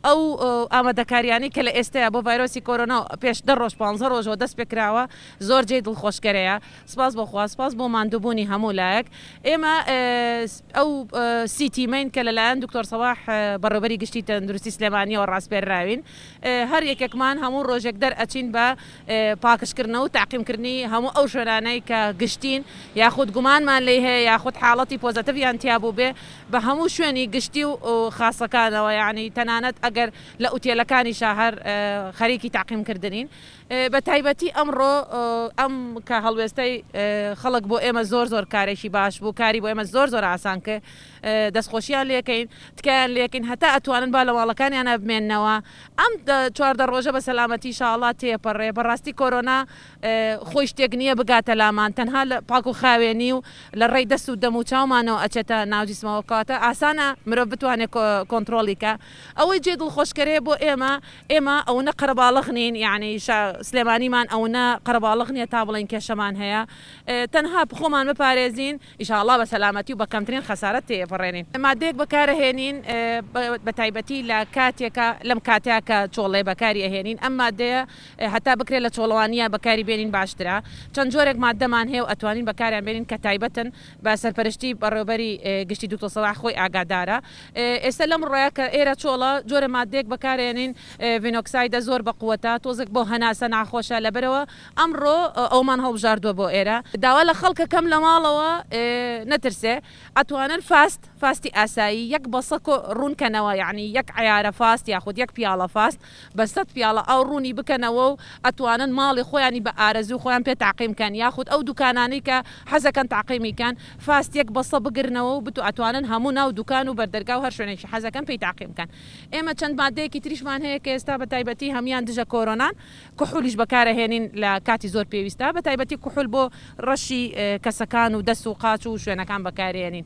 ئەو ئامادەکارییانەی کە لە ئێستەیە بۆ ڤایرۆسی کۆرۆنا و پێش دە ڕۆژ پانزە ڕۆژەوە دەست پێ کراوە زۆر جێی دڵخۆشکەرەیە. سپاس بۆ خوا، سپاس بۆ ماندووبوونی هەموو لایەک. ئێمە ئەو سی تیمەین کە لەلایەن دکتۆر سەڵاح بەڕێوەبەری گشتی تەندروستی سلێمانییەوە ڕاسپێرراوین. هەر یەکێکمان هەموو ڕۆژێک دەرئەچین بە پاکژکردنەوە و تەعقیمکردنی هەموو ئەو شوێنانەی کە گشتین یاخود گومانمان لێی هەیە یاخود حاڵەتی پۆزەتڤیان تیا بووبێ. بە هەموو شوێنی گشتی و خاسەکانەوە یانی تەنانەت ئەگەر لە ئوتێلەکانیشا هەر خەریکی تەعقیم کردنین بە تایبەتی ئەمڕۆ ئەم کە هەڵوێستەی خەڵک بۆ ئێمە زۆر زۆر کارێکی باش بوو کاری بۆ ئێمە زۆر زۆر ئاسان کرد دەستخۆشیان لێکەین تکایان لێکەین هەتا ئەتوانن با لە ماڵەکانیانە بمێنەوە ئەم چواردە ڕۆژە بە سەلامەتی شاءاللە تێپەڕێ بەڕاستی کۆرۆنا خۆی شتێک نییە بگاتە لامان تەنها لە پاک و خاوێنی و لە ڕێی دەست و دەم و چاومانەوە ئەچێتە ناو جیسمەوە کەواتە ئاسانە مرۆڤ بتوانێت کۆنتڕۆڵی کا ئەوەی جێ دڵخۆشکەرەیە بۆ ئێمە ئێمە ئەونە قەرەباڵغ نین یانی سلێمانیمان ئەونە قەرەباڵغ نییە تا بڵێین کێشەمان هەیە تەنها خۆمان بپارێزین ئیشاڵڵا بە سەلامەتی و بە کەمترین خەسارەت تێیەپەڕێنین مادەیەک بەکارەهێنین بەتایبەتی لە کاتێکا لەم کاتەیا کە چۆڵێ بەکاری ئەهێنین ئەم مادەیە هەتا بکرێت لە چۆڵەوانیە بەکاری بێنین باشترە چەند جۆرێک ماددەمان هەیە و ئەتوانین بەکاریان بێنین کە تایبەتن بە سەرپەرشتی بەڕێوەبەری گشتی دوکتۆر سەلاح خۆی ئاگادارە ئێستا لەم ڕۆیە کە ئێرە چۆڵە جۆرە ماددەیەک بەکارێنین ڤینۆکسایدە زۆر بە قوەتە تۆزێک بۆ هەناسە ناخۆشە لەبەرەوە ئەمڕۆ ئەومان هەڵبژاردوە بۆ ئێرە داوا لە خەڵکە کەم لە ماڵەوە نەترسێ ئەتوانن فاست فاستی ئاسایی یەک بەسە کۆ ڕوون کەنەوە یەعنی یەک عەیارە فاست یاخود یەک پیاڵە فاست بە سەد پیاڵە ئاو ڕوونی بکەنەوە و ئەتوانن ماڵی خۆیانی بە ئارەزووی خۆیان پێ تەعقیم کەن یاخود ئەو دوکانانەی کە حەزەکەن تەعقیمی کەن فاست یەک بەسە بگرنەوە و بتو ئەتوانن هەموو ناو دوکان و بەردەرگا و هەر شوێنێکی حەزەکەن پێی تەعقیم کەن ئێمە چەند ماددەیەکی تریشمان هەیە کە ئێستا بە تایبەتی هەموویان دژە کۆرۆنان کحولیش بەکار ئەهێنین لە کاتی زۆر پێویستا بە تایبەتی کحول بۆ ڕەشی کەسەکان و دەست و قاچ و شوێنەکان بەکارێنین.